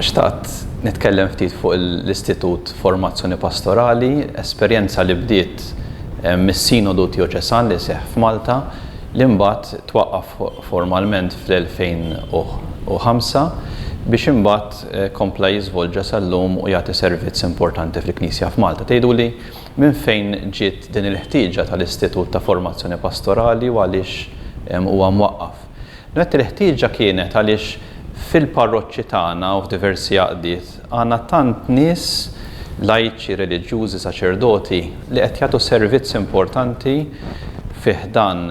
Xtaqt nitkellem ftit fuq l-Istitut Formazzjoni Pastorali, esperjenza li bdiet eh, mis-Sinodu Tioċesan li seħ f'Malta, li mbagħad twaqqaf formalment fl-2005 biex imbagħad eh, kompla jiżvolġa sal-lum u jagħti servizz importanti fil-Knisja f'Malta. Tgħiduli Minn fejn ġiet din il-ħtieġa tal-Istitut ta' Formazzjoni Pastorali u għaliex huwa mwaqqaf? Nett il-ħtieġa kienet għaliex fil-parroċċi tagħna u f'diversi għaqdiet għandna tant nies lajċi, reliġjużi, saċerdoti li qed jagħtu servizz importanti fi ħdan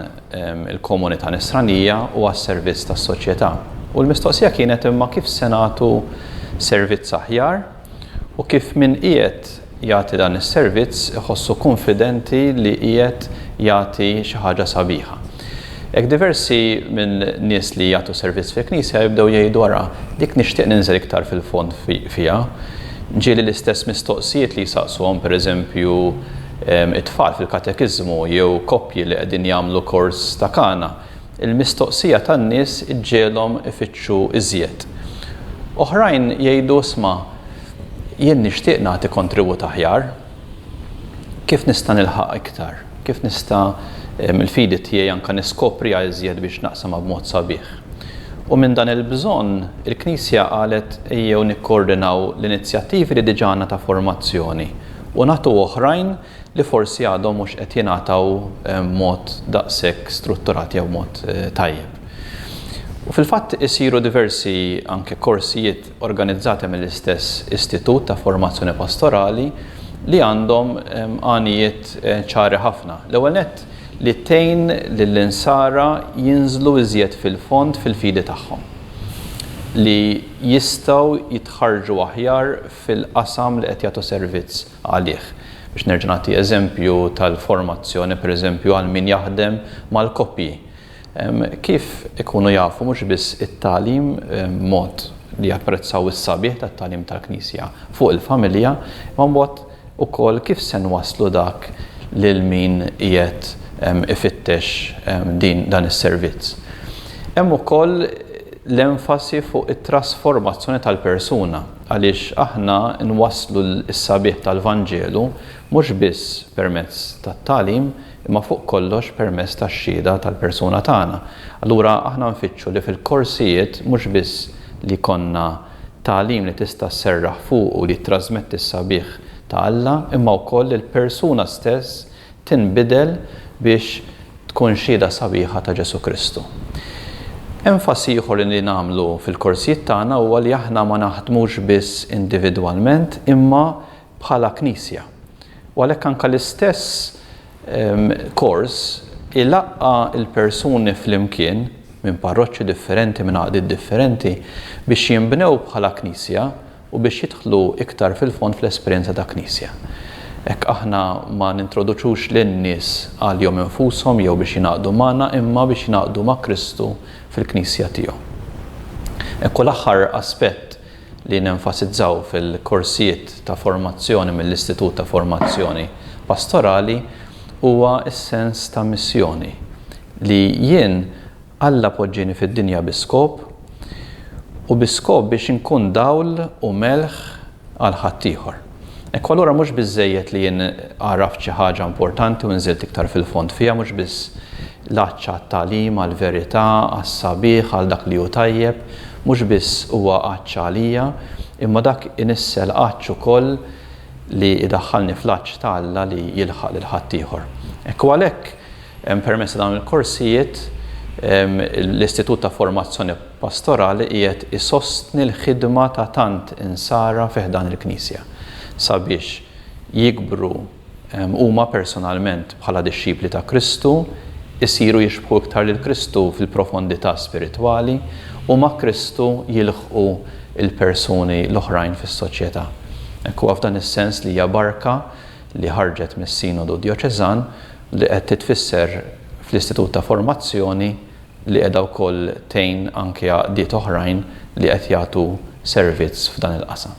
il-komunità nisranija u għas-servizz tas-soċjetà. U l-mistoqsija kienet imma kif se nagħtu servizz aħjar? u kif min qiegħed jagħti dan is-servizz iħossu kunfidenti li qiegħed jagħti xi ħaġa sabiħa. Hekk diversi minn nies li jagħtu servizz fil-Knisja jibdew jgħidu ara, dik nixtieq ninżel iktar fil-fond fiha. Ġieli l-istess mistoqsijiet li jsaqsuhom pereżempju it-tfal fil-katekiżmu jew koppji li qegħdin jagħmlu kors ta' kana. Il-mistoqsija tan-nies iġġiegħlhom ifittxu iżjed. Oħrajn jgħidu, 'Isma', jien nixtieq nagħti kontribut aħjar. Kif nista' nilħaq iktar? Kif nista' l-fidi tiegħi anke niskopriha iżjed biex naqsamha b'mod sabiħ? U minn dan il-bżonn, il-Knisja qalet, 'Ejjew nikkoordinaw l-inizjattivi li diġà għandna ta' formazzjoni u nagħtu oħrajn li forsi għadhom mhux qed jingħataw b'mod daqshekk strutturat jew b'mod tajjeb. U fil-fatt isiru diversi anke korsijiet organizzati mill-istess Istitut ta' Formazzjoni Pastorali li għandhom għanijiet ċari ħafna. L-ewwel nett li tgħin lill-insara jinżlu iżjed fil-fond fil-fidi tagħhom, li jistgħu jitħarrġu aħjar fil-qasam li qed jagħtu servizz, għalih. Biex nerġa' nagħti eżempju tal-formazzjoni, pereżempju għal min jaħdem mal-koppji, kif ikunu jafu mhux biss it-tagħlim b'mod li japprezzaw is-sabiħ tat-tagħlim tal-Knisja fuq il-familja, imma mbagħad ukoll kif se nwasslu dak lil min qiegħed ifittex din dan is-servizz. Hemm ukoll l-enfasi fuq it-trasformazzjoni tal-persuna. Għaliex aħna nwasslu s-sabiħ tal-Vanġelu mhux biss permezz tat-tagħlim imma fuq kollox permezz tax-xhieda tal-persuna tagħna. Allura aħna nfittxu li fil-korsijiet mhux biss li jkollna tagħlim li tista' sserraħ fuqu li jittrażmetti s-sabiħ ta' Alla imma wkoll il-persuna stess tinbidel biex tkun xhieda sabiħa ta' Ġesù Kristu. Enfasi ieħor li nagħmlu fil-korsijiet tagħna huwa li aħna ma naħdmux biss individwalment imma bħala Knisja. U għalhekk anke l-istess kors ilaqqa' l-persuni flimkien minn parroċċi differenti, minn għaqdiet differenti, biex jinbnew bħala Knisja u biex jidħlu iktar fil-fond fl-esperjenza ta' Knisja. Hekk aħna ma nintroduċux lin-nies għalihom infushom jew biex jingħaqdu magħna imma biex jingħaqdu ma' Kristu fil-Knisja tiegħu. Hekk u l-aħħar aspett li nenfasizzaw fil-korsijiet ta' formazzjoni mill-Istitut ta' Formazzjoni Pastorali huwa s-sens ta' missjoni li jien Alla poġġieni fid-dinja bi skop, u bi skop biex inkun dawl u melħ għal ħaddieħor. Ekku allura mhux biżżejjed li jien għaraft xi ħaġa importanti u nżilt iktar fil-fond fiha, mhux biss l-għatx għat-tagħlim, għall-verità, għas-sabiħ, għal dak li hu tajjeb, mhux biss huwa għatx għalija, imma dak inissel għatx ukoll li jdaħħalni fl-għatx ta' Alla li jilħaq lil ħaddieħor. Ekku għalhekk, Permezz ta' dawn il-korsijiet, l-Istitut ta' Formazzjoni Pastorali qiegħed isostni l-ħidma ta' tant Insara fi ħdan il-Knisja sabiex jikbru huma personalment bħala dixxipli ta' Kristu, isiru jixbħu iktar lil Kristu fil-profondità spiritwali u ma' Kristu jilħqu l-persuni l-oħrajn fis-soċjetà. Għalhekk huwa f'dan is-sens li hija barka li ħarġet mis-Sinodu Djoċeżan, li qed titfisser fl-Istitut ta' Formazzjoni li qiegħda wkoll tgħin anke għaqdiet oħrajn li qed jagħtu servizz f'dan il-qasam.